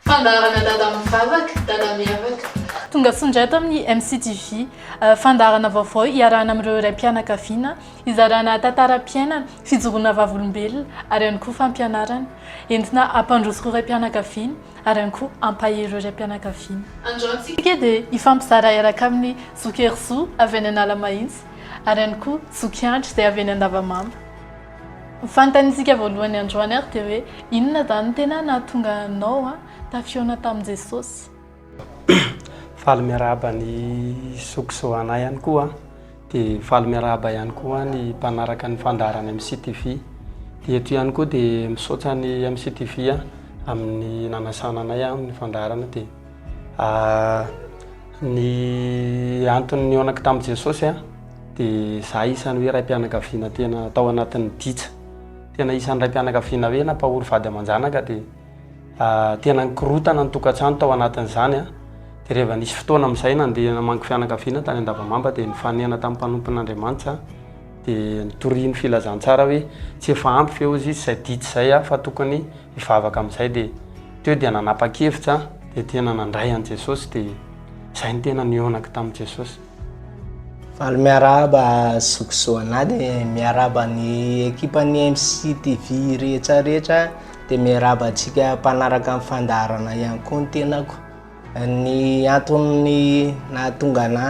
Fandaharana dada mivavaka, dada miavaka. Tongasoa indray ato amin'ny MCTV. Fandaharana vaovao iarahana amin'ireo raim-pianakaviana, hizarana tantaram-piainana, fijoroana vavolombelona ary ihany koa fampianarana. Entina hampandroso ireo raim-pianakaviana ary ihany koa hampahery ireo raim-pianakaviana. Androantsika dia hifampizara iaraka amin'ny Zoky Herizo avy any Analamahitsy ary ihany koa Zoky Andry izay avy any Andavamamba. Ny fanontanintsika voalohany androany ary dia hoe inona izany no tena nahatonga anao tafihaona tamin'i Jesosy? Faly miarahaba ny zoky sy ho anay ihany koa. Dia faly miarahaba ihany koa ny mpanaraka ny fandaharana MCTV. Dia eto ihany koa dia misaotra ny MCTV amin'ny nanasana anay amin'ny fandaharana dia. Ny antony nihaonako tamin'i Jesosy aho dia izaho isan'ny hoe raim-pianakaviana tena tao anatin'ny dija. Tena isan'ny raim-pianakaviana hoe nampahory vady aman-janaka dia tena nikorotana ny tokantrano tao anatin'izany aho. Dia rehefa nisy fotoana amin'izay nandeha namangy fianakaviana tany Andavamamba dia nifanena tamin'ny mpanompon'Andriamanitra aho. Dia nitoriany filazantsara hoe tsy efa ampy ve hozy izy izay dija izay aho fa tokony Nivavaka amin'izay dia teo dia nanapa-kevitra aho dia tena nandray an'i Jesosy dia izay no tena nihaonako tamin'i Jesosy. Valo miarahaba zokizo anah dia miarahaba ny ekipan'ny MCTV rehetra rehetra dia miarahaba antsika mpanaraka ny fandaharana ihany koa ny tenako. Ny anton'ny nahatonga anà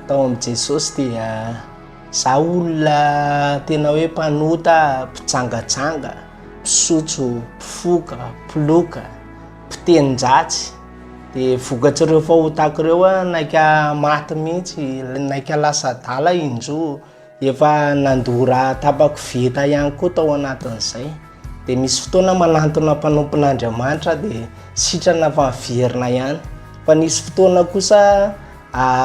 tao amin'i Jesosy dia za olona tena hoe mpanota, mpijangajanga, mpisotro, mpifoka, mpiloka, mpitenin-dratsy. Dia vokatr'ireo fahotako ireo aho naika maty mihitsy, naika lasa adala injoa. Efa nandoa raha tapakoveta ihany koa tao anatin'izay. Dia misy fotoana manantona mpanompon'Andriamanitra dia sitrana fa miverina ihany. Fa nisy fotoana kosa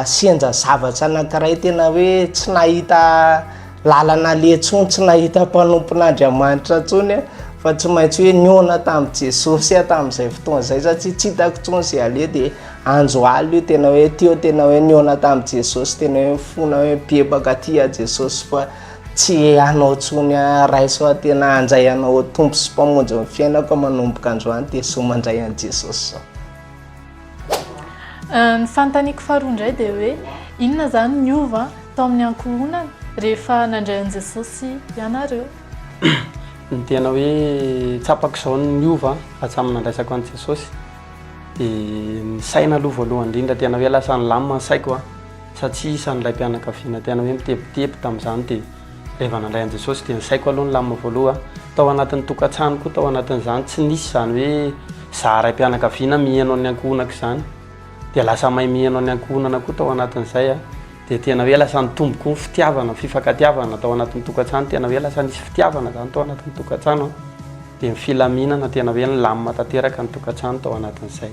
senja zavatra anankiray tena hoe tsy nahita lalana aleha intsony, tsy nahita mpanompon'Andriamanitra intsony fa tsy maintsy hoe nihaona tamin'i Jesosy aho tamin'izay fotoana izay satria tsy hitako intsony izay aleha dia Anjo alina io tena hoe teo tena hoe nihaona tamin'i Jesosy tena hoe mifona hoe bebaka aty aho Jesosy fa tsy anao tsony aho raiso aho tena hanjay anao ho tompo sy mpamonjy ny fiainako manomboka androany dia soa mandray an'i Jesosy zao. Ny fanontaniako faharoa indray dia hoe inona izany niova tao amin'ny ankohonana rehefa nandray an'i Jesosy ianareo? Ny tena hoe tsapako izao niova hatramin'ny nandraisako an'i Jesosy. dia ny saina aloha voalohany indrindra tena hoe lasa nilamina ny saiko a satria isan'ilay mpianakaviana tena hoe mitebiteby tamin'izany dia rehefa nandray an'i Jesosy dia ny saiko aloha nilamina voalohany tao anatin'ny tokantrano koa tao anatin'izany tsy nisy izany hoe izaho raim-pianakaviana miheno an'ny ankohonako izany dia lasa mahay miheno an'ny ankohonana koa tao anatin'izay a dia tena hoe lasa nitombo koa ny fitiavana, fifankatiavana tao anatin'ny tokantrano, tena hoe lasa nisy fitiavana izany tao anatin'ny tokantrano an, dia ny filaminana tena hoe nilamina tanteraka ny tokantrano tao anatin'izay.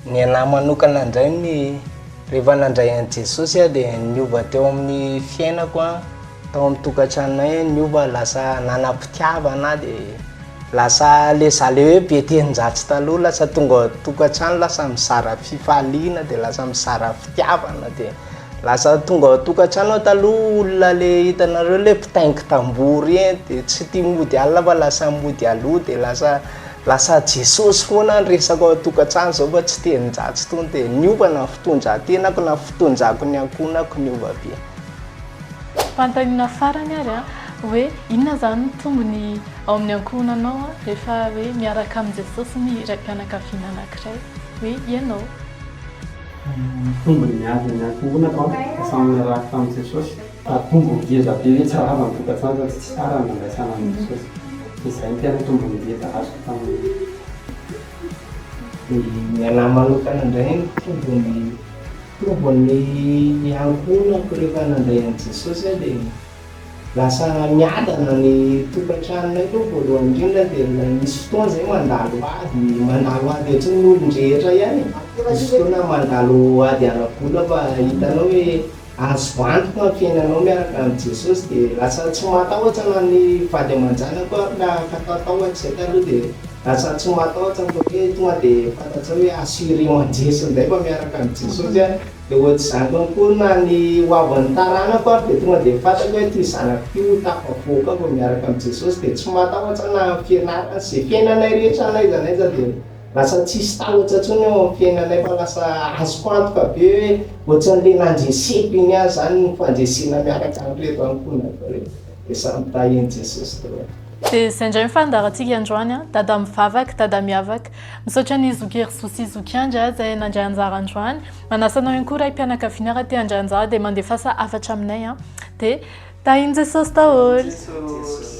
Ny anahy manokana indray ny rehefa nandray an'i Jesosy aho dia niova teo amin'ny fiainako an, Tao amin'ny tokantranonay ny hova lasa nanam-pitiavana dia lasa le za le hoe be telonjatsy taloha lasa tonga ao an-tokantrano lasa mizara fifaliana dia lasa mizara fitiavana dia lasa tonga ao an-tokantrano aho taloha olona le hitanareo le mpitaingy tamboho reny dia tsy tia mody alina fa lasa mody aloha dia lasa lasa Jesosy foana ny resako ao an-tokantrano izao fa tsy telonjatsy intsony dia niova na fitondran-tenako na fitondrako ny ankohonako niova be. Fanontaniana farany ary an, hoe inona izany no tombony ao amin'ny ankohonanao rehefa hoe miaraka amin'i Jesosy ny raim-pianakaviana anankiray, hoe ianao. Ny tombony miady amin'ny ankohonako an, dia samy narahako tamin'i Jesosy, fa tombony ngeza be hoe tsy rava ny tokantrano raha tsy tsara ny nandraisana an'i Jesosy, dia izay no tena tombony ngeza azoko tamin'iny. Dia ny anah manokana indray no tombony. Provon'ny niankohonako rehefa nandray an'i Jesosy aho dia lasa miadana ny tokantranonay aloha voalohany indrindra dia ilay misy fotoana izay mandalo ady, mandalo ady ohatran'ny olon-drehetra ihany e, misy fotoana mandalo ady ara-bola fa hitanao hoe azo antoka ny fiainanao miaraka amin'i Jesosy dia lasa tsy matahotra na ny vady aman-janako ary na hatahotahotry izay taloha dia. Lasa tsy mahatahotra ny tompony hoe tonga dia fantatrao hoe assurer mandresy indray fa miaraka amin'i Jesosy aho, dia ohatr'izany koa akory na ny hoavin'ny taranako ary dia tonga dia fantatro hoe ity zanako ity ho tafavoaka ao vao miaraka amin'i Jesosy dia tsy mahatahotra na amin'ny fianarana sy izay fiainanay rehetra na aiza na aiza dia lasa tsisy tahotra intsony eo amin'ny fiainanay fa lasa azoko antoka be hoe ohatran'ilay nandreseko iny aho izany ny fandresena miaraka amin'ireto ankohonako ireto. Dia samy tahin'i Jesosy daholo. Dia izay indray ny fandaharantsika androany an! Dada mivavaka, Dada miavaka. Misaotra an'i Zoky Erizoa sy Zoky Andry an, izay nandray anjara androany. Manasa anao ihany koa raim-pianakaviana raha te handray anjara dia mandefasa hafatra aminay an! Dia tahin'i Jesosy daholo.